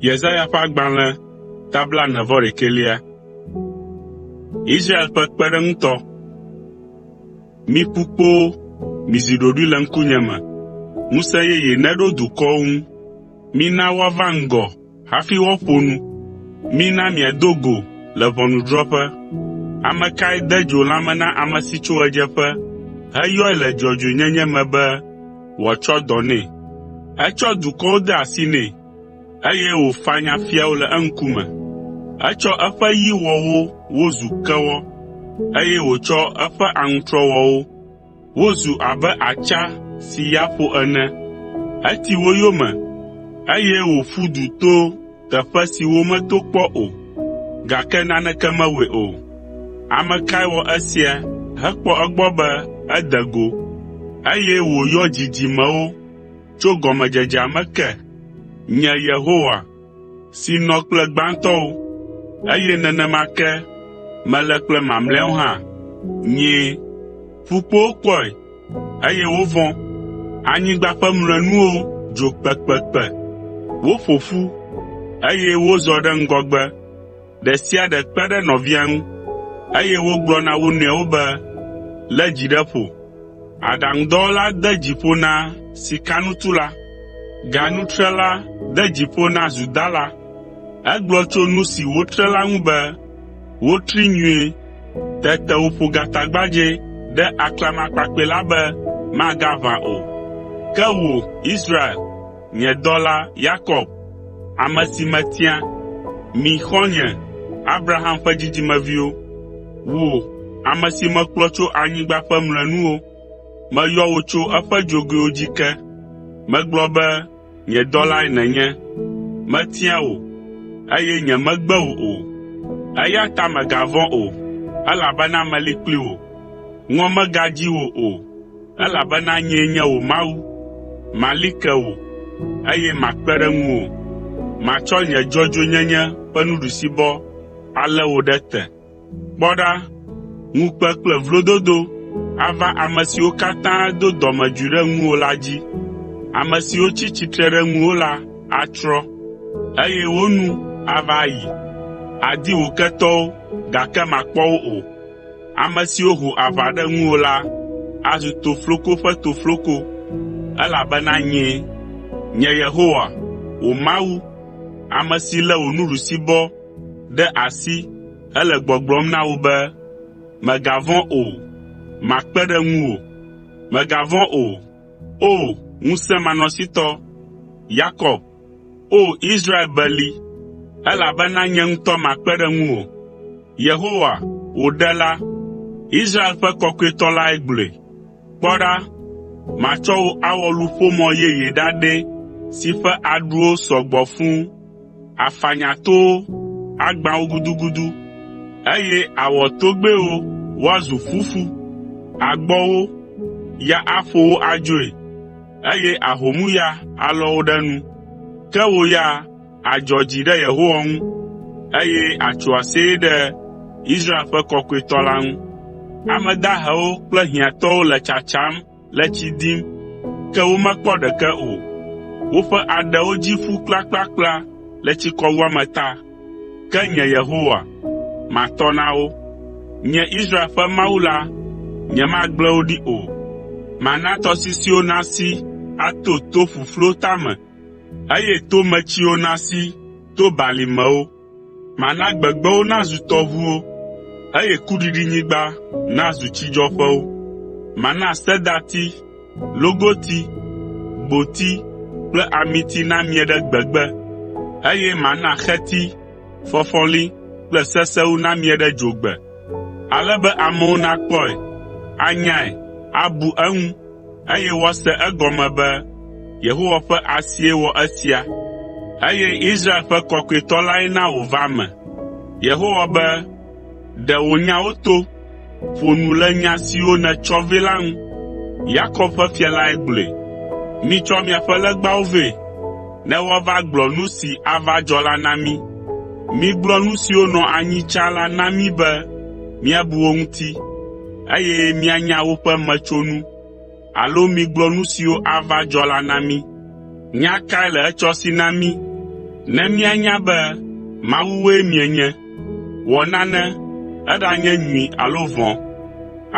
Yesaya ƒe agbalẽ ta blaene vɔ ɖekɛlia. Israel ƒe kpeɖeŋutɔ. Mi ƒukpowo, mizi ɖoɖoe le ŋkunye me. Ŋusẽ yeye neɖo dukɔwo ŋu. Mina woava ŋgɔ hafi woaƒo nu. Mina miado go le ʋɔnudrɔ̃ƒe. Ame kae de dzo lãme na ame si tso ɣedzeƒe heyɔe le dzɔdzɔenyenye me be wòatsɔ dɔ nɛ? Etsɔ dukɔwo de asi nɛ, eye wòfanya fiawo le eŋkume. Etsɔ eƒe yi wɔ wo wozu kewɔ, eye wòtsɔ eƒe aŋutrɔ wɔ wo. Wozu abe atsa si ya ƒo ene. Eti wo yome, eye wòƒu du to teƒe si wometo kpɔ o, gake naneke mewɔe o. Ame kae wɔ esia hekpɔ egbɔ be ede go, eye wòyɔ dzidzimewo tso gɔmedzedzea me ke? Nye Yehowa, si nɔ kple gbãtɔwo, eye nenema ke mele kple mamlɛawo hã. Nyee. Ƒukpowo kpɔe, eye wovɔ̃. Anyigba ƒe mlɔenuwo dzo kpekpekpe. Woƒo ƒu, eye wozɔ ɖe ŋgɔgbe. Ɖe sia ɖe kpe ɖe nɔvia ŋu, eye wogblɔ na wo nɔewo be, “Lé dzi ɖe ƒo.” Aɖaŋudɔwɔla de dzi ƒo na sikanutula, ganutrela de dzi ƒo na zudala. Egblɔ tso nu si wotre la ŋu be, “Wotri nyuie.” Tete wòƒo gatagbadzɛ ɖe aklamakpakpɛ la be magaʋã o. Ke wò, Israel, Nye dɔla Yakob, ame si metia, mi xɔ̃nye Abraham ƒe dzidzimeviwo, wò, ame si mekplɔ tso anyigba ƒe mlɔenuwo, meyɔ wò tso eƒe dzogoewo dzi ke. Megblɔ be, ‘Nye dɔlae nènye.’ Metia wò, eye nyemegbe wò o. Eya ta mègavɔ̃ o, elabena meli kpli wò. Ŋɔ megadzi wò o, “Elabena nyee nye wò Mawu. Mali ke wò, eye makpe ɖe ŋuwò. Matsɔ nye dzɔdzɔenyenye ƒe nuɖusibɔ alé wò ɖe te.” Kpɔ ɖa, ŋukpe kple vlododo ava ame siwo katã do dɔmedzoe ɖe ŋuwò la dzi. Ame siwo tsi tsitre ɖe ŋuwò la atsrɔ̃, eye wo nu ava ayi. Àdi wò ketɔwo, gake màkpɔ wo o. Ame siwo ho aʋa ɖe ŋuwò la azu tofloko ƒe tofloko, elabena nyee, nye Yehowa, wò Mawu, ame si lé wò nuɖusibɔ ɖe asi hele gbɔgblɔm na wò be, “Mègavɔ̃ o, makpe ɖe ŋuwò. Mègavɔ̃ o, O! Ŋusẽmanɔsitɔ, Yakob.” O! Israel beli, elabena nye ŋutɔ makpe ɖe ŋuwò.” Yehowa, wò Ɖela, Israel ƒe Kɔkɔetɔ lae gblɔe. “Kpɔ ɖa, matsɔ wò awɔ luƒomɔ yeye ɖaɖɛ si ƒe aɖuwo sɔ gbɔ fũ. Àfanya towo, agbã wo gudugudu, eye àwɔ togbɛwo woazu fufu. Àgbɔ wo, ya aƒo wo adzoe. eye ahomu ya alɔ wò ɖe nu. Ke wò ya àdzɔ dzi ɖe Yehowa ŋu, eye àtso aseye ɖe Israel ƒe Kɔkɔetɔ la ŋu. Ame dahewo kple hiãtɔwo le tsatsam le tsi dim, ke womekpɔ ɖeke o. Woƒe aɖewo dzi ƒu kplakplakpla le tsikɔwuame ta. Ke nye Yehowa, matɔ na wo. Nye Israel ƒe Mawu la, nyemagblẽ wo ɖi o. Mana tɔsisiwo nasi ato to ƒuƒluwo tame, eye tometsiwo nasi to balimewo. Mana gbegbewo nazu tɔʋuwo, eye kuɖiɖinyigba nazu tsidzɔƒewo. Mana sedati, logoti, gboti kple amiti namie ɖe gbegbe, eye mana xeti, fɔfɔli kple sesewu namie ɖe dzogbe, ale be amewo nakpɔe, anyae, abu eŋu, eye woase egɔme be Yehowa ƒe asie wɔ esia, eye Israel ƒe Kɔkɔetɔ lae na wòva eme. Yehowa be, Ɖe wò nyawo to, ƒo nu le nya siwo nètsɔ vɛ la ŋu. Yakob ƒe fia lae gblɔe. Mitsɔ miaƒe legbawo vɛ, ne woava gblɔ nu si ava dzɔ la na mí. Migblɔ nu siwo nɔ anyi tsã la na mí be míabu wo ŋuti, eye míanya woƒe metsonu.” alo migblɔ nu siwo ava dzɔ la na mí. Nya kae le etsɔ si na mí ne míanya be mawue mienye? Wɔ nane, eɖanye nyui alo vɔ̃,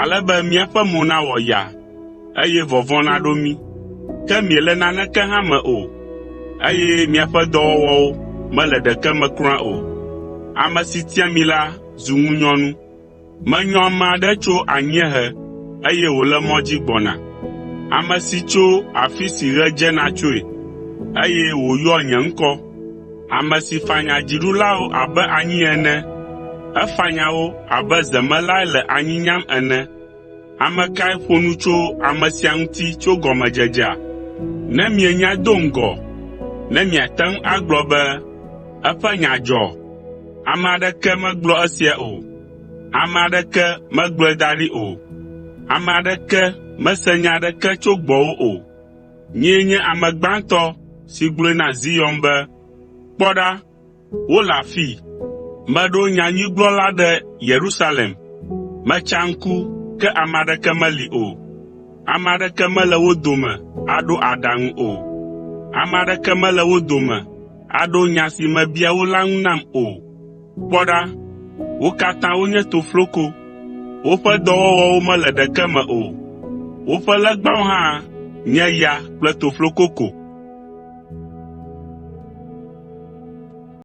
ale be míaƒe mo nawɔ yaa, eye vɔvɔ̃ naɖo mí. Ke miele naneke hã me o, eye miaƒe dɔwɔwɔwo mele ɖeke me kura o. Ame si tia mi la zu ŋunyɔnu. “Menyɔ ame aɖe tso anyiehe, eye wòle mɔ dzi gbɔna, ame si tso afi si ɣe dzena tsoe, eye wòyɔa nye ŋkɔ. Ame si fanya dziɖulawo abe anyi ene, efanya wo abe zemelae le anyi nyam ene. Ame kae ƒo nu tso ame sia ŋuti tso gɔmedzedzea? Ne mienyae do ŋgɔ, ne miate ŋu agblɔ be, “Eƒe nya dzɔ.” Ame aɖeke megblɔ esia o, ame aɖeke megblɔe da ɖi o, ame aɖeke mese nya aɖeke tso gbɔwò o. Nyee nye ame gbãtɔ si gblɔe na Zion be, “Kpɔ ɖa!” Wole afii! Meɖo nyanyuigblɔla ɖe Yerusalem. Metsa ŋku, ke ame aɖeke meli o. Ame aɖeke mele wo dome aɖo aɖaŋu o. Ame aɖeke mele wo dome aɖo nya si mebia wo la ŋu nam o. Kpɔ ɖa, wo katã wonye tofloko, Woƒe dɔwɔwɔwo mele ɖeke me o. Woƒe legbawo hã nye ya kple tofloko ko.”